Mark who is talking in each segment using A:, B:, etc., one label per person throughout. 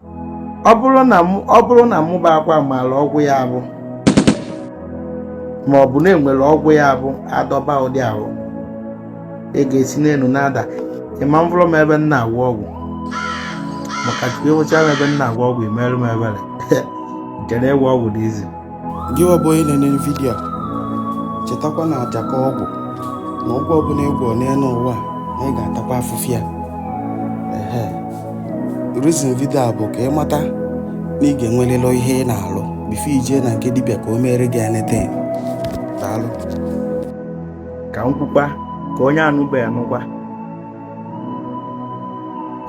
A: ọ bụrụ na mụ- ọ bụrụ na mụ bụ Akwa maara ọgwụ ya bụ ma ọ bụ na e nwere ọgwụ ya bụ a dọba ụdị ahụ ego esi n'elu na-ada ị ma-avụrọ m ebe m na-agwọ ọgwụ maka chukwu ị vụcha m ebe m na-agwọ ọgwụ i meere m ebere chere ịgwọ ọgwụ dị easy gịwa bụ
B: onye na-ene vidiyo a chetakwa na aja ka ọgwụ na ọgwụ ọbụla ị gwọ n'elu ụwa a, na ị ga-atakwa afụfụ ya ehe reason vidiyo a bụ ka ị mata na ị ga-enwerịrị ihe ị na-alụ before i jee na nke dibịa ka o meere gị anything
A: daalụ ka m kwukwa ka onye anụbeghị nụkwa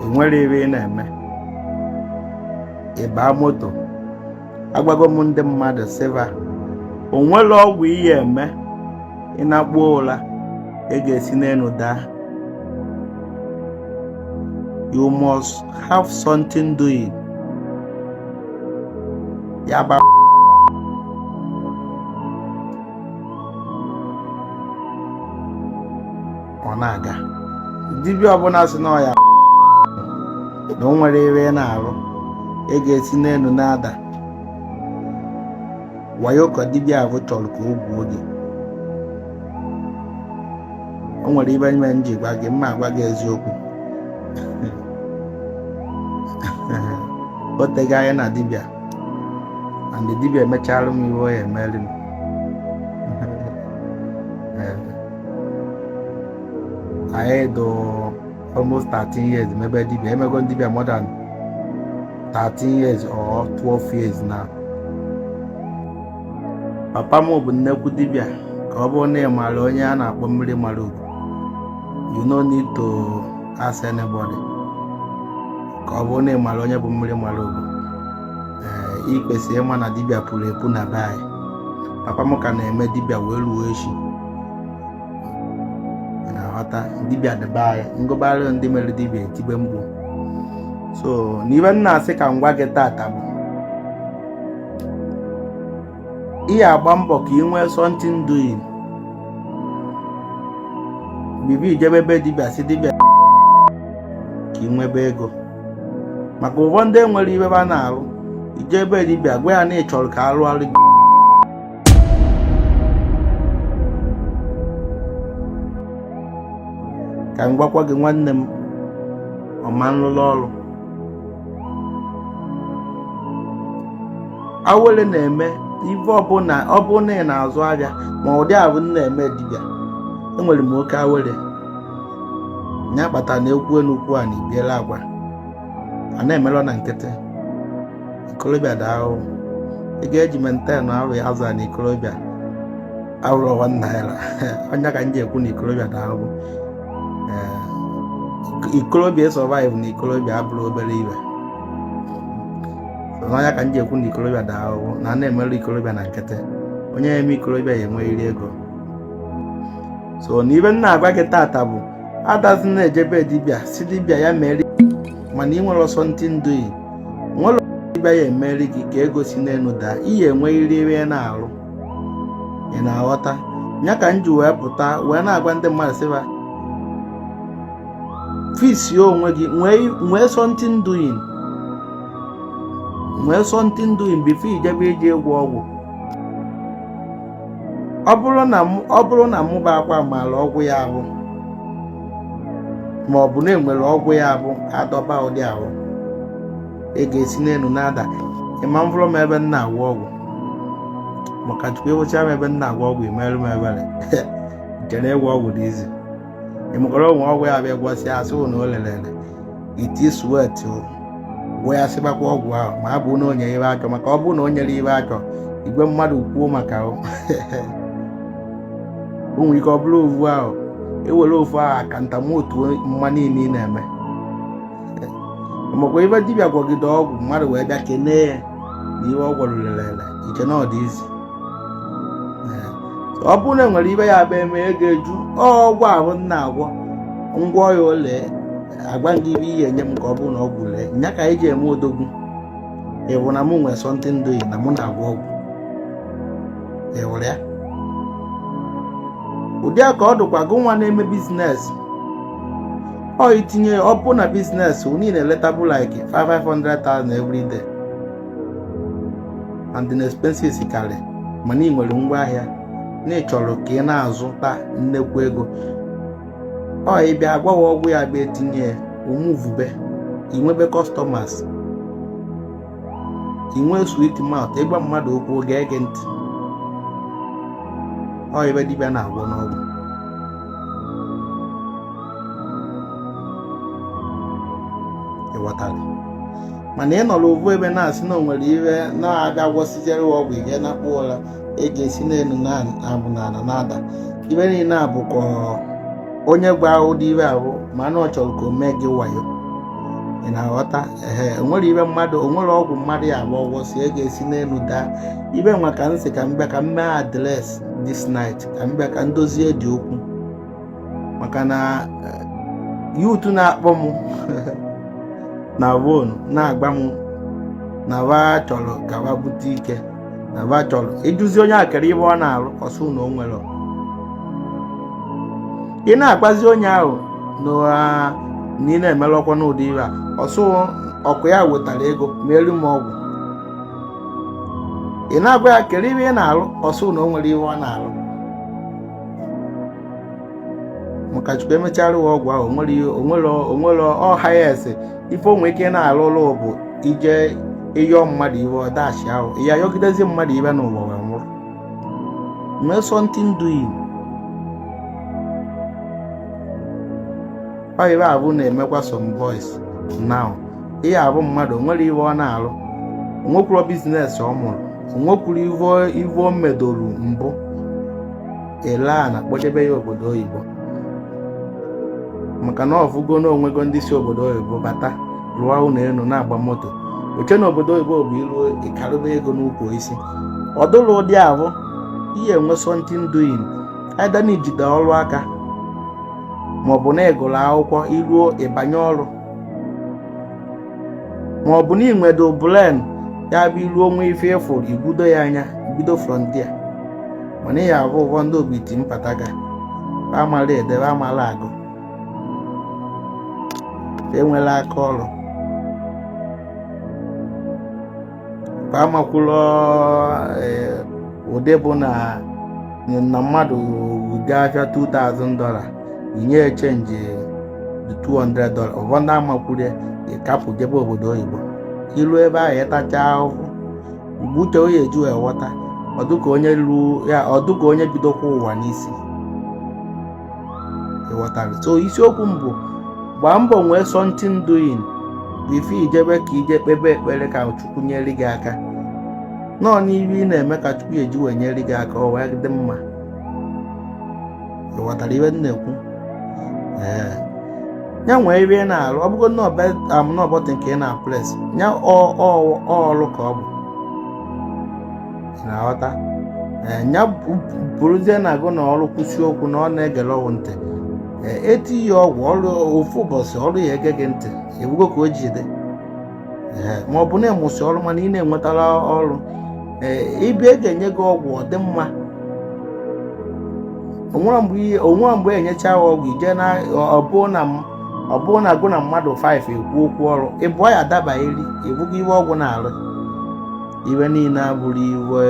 A: e nwerọ ive ị na-eme ị gbaa moto agwago m ndị mmadụ sị va o nwerọ ọgwụ ị ya-eme ị nakpuo ụra ego esi n'elu daa you must have something doing ya ba ọ na-aga dibịa ọbụla sị na ọ ya na o nwere ive a na-arụ ego esi n'elu na-ada wayo ka dibịa ahụ chọrọ ka o gwuo gị o nwere ive mere m ji gwa gị m na-agwa gị eziokwu o tego anya na dibịa and dibịa emechara m ive ọ ya-emere m anyị dụ almost 13 years mebe dibia emego dibia more than 13 years or 12 years now papa m bụ nnekwu dibia ka ọ bụrụ na ị maara onye a na-akpọ mmiri mara ugo you no need to ask anybody ka ọ bụrụ na ị maara onye bụ mmiri mara ugo ee i kwesị ịma na dibia puru epu na be anyị papa m ka na-eme dibia wee ruo echi na-aghọta dibịa dị be anyị m gụbara ndị mere dibịa e tibe mkpu so n'ive m na-asị ka m gwa gị tata bụ ị ya-agba mbọ ka ị nwee something doing before i jebe ebe dibịa sị dibịa ka ị nwebe ego maka ụfọdụ ndị enwerọ ive va na-arụ i jee ebe dibịa gwa ya na ị chọrọ ka a rụọrọ gị ka m gwakwa gị nwanne m ọma nlụlụ ọrụ awele na-eme ife ọbụla ị na-azụ ahịa ma ụdị a m na-eme dibịa enwere m oke awele nya kpata na ekwu enukwu a na ibiela agwa a na-emelọ na nkịtị ikorobịa dị ahụhụ ị ga-eji menten ahụ ya azụ na ikorobịa awụrọ ovu naira ọ nya ka m ji ekwu na ikorobịa dị ahụhụ ikorobịa ịsọvaịvụ na ikorobịa abụrọ obere ive ọ nya ka m ji ekwu na ikorobịa dị ahụhụ na a na-emerọ ikorobịa na nkịtị onye na-eme ikorobịa ya enwerịrị ego so na ive m na-agwa gị tata bụ adazi na-eje be dibịa sị dibịa ya mere mana ị nwerọ something doing nwerọ dibịa ya-emeri gị ka ego si n'elu daa ị ya-enwerịrị ihe ị na-arụ ị na-aghọta ya ka m ji wee pụta wee na-agwa ndị mmadụ sị ba fiksi onwe gị nwee something doing nwee something doing bifo ị jebe ije ịgwọ ọgwụ ọ bụrụ na mụ- ọ bụrụ na mụba akwa maara ọgwụ ya-abụ ma ọ bụ na enwere ọgwụ ya-abụ a dọba ụdị ahụ ego esi n'elu na-ada ịma mvụrụ m ebe m na-agwọ ọgwụ maka chukwu ị vụchaa m ebe m na-agwọ ọgwụ i meeru m ebere i che na ịgwọ ọgwụ dị izi ịmụkọrọ onwe ọgwụ ya bịa gwọsịa asị na o lelele iti swet gwọ ya sịbakwa ọgwụ ahụ ma abụ na o nye ive a chọ maka ọ bụrụ na o nyerọ ive a chọ igwe mmadụ kwuo maka o nwere ike ọ bụrụ ovu ahụ ewere ofu ahụ aka ntamotu mma niile ị na-eme makwa ị vụ dibịa gwọgide ọgwụ mmadụ wee bịa kenee ya na ive ọ gwọrọ lelele i che na ọ dị izi ọ bụrụ na e nwere ive ya-abụ e mee ego eju ọgwụ ahụ m na-agwọ m gwọọ ya o lee agwa gị ive ị ya-enye m ka ọ bụrụ na ọgwụ lee nya ka anyị ji eme odogwu ị vụ na mụ nwee something doing na mụ na-agwọ ọgwụ ị vụrụ ya ụdị a ka ọ dụkwa gụ nwa na-eme biznes ọ itinye ọ bụ na biznes unu na-eletabụ like 500,000 every day and the expenses karị mana ị nwere ngwa ahịa na ị chọrọ ka ị na-azụta nnekwu ego ọ ị bịa agwọwa ọgwụ ya bịa etinye ya ọ muvube i nwebe kọstọmas i nwee swit maut ị gwa mmadụ okwu ọ ga-ege ntị ọ ive dibịa na-agwọ n'ọgwụ ị ghọtara mana ị nọrọ ovu ebe na-asị na o nwere ihe na-abịa gwọsijere ọgwụ ihe na-akpụ ụra ego esi n'elu na-abụ n'ala na-ada ihe niile a bụ ka onye gwa ụdị ihe ahụ ma na ọ chọrọ ka o mee gị wayo ị na-aghọta ehe o nwero ive mmadụ o nwero ọgwụ mmadụ ya abịa gwọsịa ego esi n'elu daa ive nwa ka m sị ka m bịa ka m mee address this night ka m bịa ka m dozie the okwu maka na eh, youth na-akpọ m na phone na-agwa m na ba chọrọ ka ba bute ike na ba chọrọ ịjụzi onye ahụ kere ihe ọ na-arụ ọ sị na o nwero ị na-agwazi onye ahụ na ah, na ị na-emerọkwa n'ụdị ihe a ọ sị ọkwa ya wetara ego meere m ọgwụ ị na-agwa ya kere ihe ị na-arụ ọ sị na o nwero ihe ọ na-arụ maka chukwu emechara ụwa ọgwụ ahụ onwere ọha ya ese ife o nwe ike na-alụ ọlụ bụ ije ịyọ mmadụ ive ọ dashia ya yọgidezi mmadụ ive n'ụwa wee nwụrụ nwee something doing ọ ive ahụ na-emekwa some boys now ihe abụ mmadụ o nwero ihe ọ na-alụ onwekwuro business ọ mụrụ onwekwuro ihe o medoro mbụ e lee ana kpọjebe ya obodo oyibo maka na ọ fụgo na onwego ndị si obodo oyibo bata rụọ ụlọ elu na-agba moto o chee na obodo oyibo bụ iruo ị karịba ego n'ukwu osisi ọ dụrọ ụdị ahụ ị ya enwe something doing either na ijide ọrụ aka maọbụ na ịgụrụ akwụkwọ iruo ịbanye ọrụ ma ọ bụ na inwedo brain ya bụ iruo o nwee ife ị fụrụ i gwudo ya anya bido from there mana ya abụ ụfọ ndị obiti mpataka ba amala ede ba amala agụ enwela aka ọrụ ka amakwụlọ eh, ụdị bụ na na mmadụ gaa afịa 2000 dọla inye ya chenji 200 dọla ụfọ ndị amakwụrọ ya ịkapụ jebe obodo oyibo iluo ebe ahụ ịtacha ahụhụ mgbe uche onye eji awọta ọ dụ ka onye lu ya ọ dụ ka onye bidokwa ụwa n'isi ịghọtara so isiokwu m bụ gbaa mbọ nwee something doing before ijebe ka ije kpebe ekpere ka chukwu nyere gị aka nọọ n'ihe ị na-eme ka chukwu ya-eji wee nyere gị aka ọ wee dị mma ịghọtara ihe m na-ekwu ee ya nwee ihe ị na-arụ ọ bụgo na ọ bụ am na ọ button ka ị na-apress ya ọ ọ ọ ọrụ ka ọ bụ na-aghọta ya bụrụzie na agụ na ọrụ kwụsị okwu na ọ na-egere ọgwụ ntị e tie ya ọgwụ o ruo ofu ụbọchị ọrụ ya ege gị ntị ị fụgo ka o ji dị ma ọ bụ na ị mụsị ọrụ mana ị nwetarọ ọrụ ị bịa a ga-enye gị ọgwụ ọ dị mma o nwere mgbe e nyechaa gị ọgwụ i jee na ọ bụrụ na agụ na mmadụ 5 e kwuo okwu ọrụ ị bịa ya adabara gị ị fụgo ihe ọgwụ na-arụ ihe niile abụrụ ife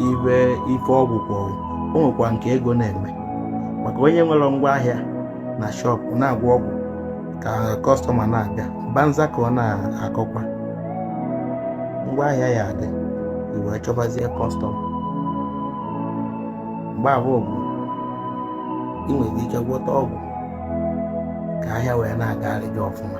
A: ife ife ọgwụ kpọrọ o nwekwa nke ego na-eme maka onye nwere ngwa ahịa na shọpụ na-agwọ ọgwụ ka kọstọma na-abịa banza ka ọ na-akọkwa ngwa ahịa ya adị i wee chọbazie kọstọma mgbe ahụ bụ ị nwere ike gwọta ọgwụ ka ahịa wee na-agara gị ọfụma